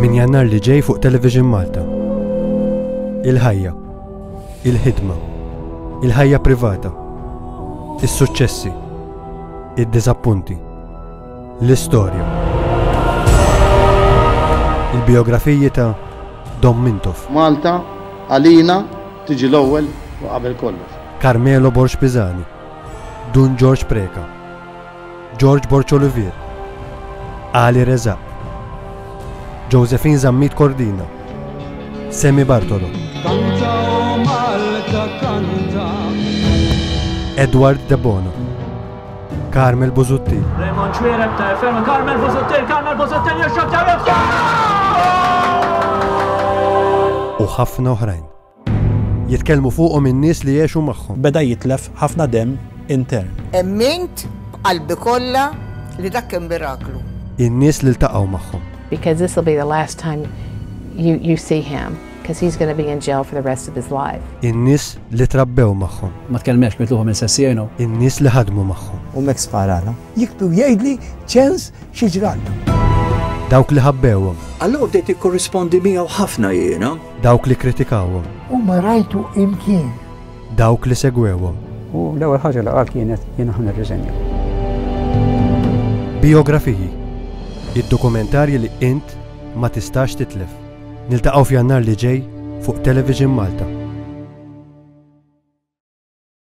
Min jannar li ġej fuq Television Malta. Il-ħajja, il-ħidma, il-ħajja privata, is-suċċessi, id-diżappunti, l-istorja. Il-biografiji ta' Dom Mintoff. Malta, għalina, tiġi l-ewwel u qabel kollox. Carmelo Borx Pizani, Dun George Preka, George Borcolivier, Ali Rezaq, Josephine Zammit Cordina, Semi Bartolo. Kanta u Malta kanta. Edward Debono. Carmel Buzutti. Raymond Ċwirem ta' ferma Carmel Buzutti, Carmel Buzutti jirxab ta' U ħafna oħrajn. Jitkellmu fuqhom in-nies li għexu magħhom. Beda jitlef ħafna demm intern. Emmint b'qalbi kollha li dak kien miraklu. In-nies li ltaqgħu magħhom. Because this will be the last time you, you see him, because he's going to be in jail for the rest of his life. In-nies li trabbew magħhom. Ma tkellmex mitluħu minn sessjenu. In-nies li ħadmu magħhom. U mek sparana. Jiktu jgħidli ċens xi ġrallu. Dawk li ħabbewhom. Allura bdejt ikkorrispondi miegħu ħafna jiena. Dawk li kritikawhom. U ma rajtu imkien. Dawk li segwewhom. U l-ewwel ħaġa li qal kienet jien aħna rriżenja. Biografiji. Id-dokumentarji li int ma tistax titlef. Niltaqgħu f'Jannar li ġej fuq Television Malta.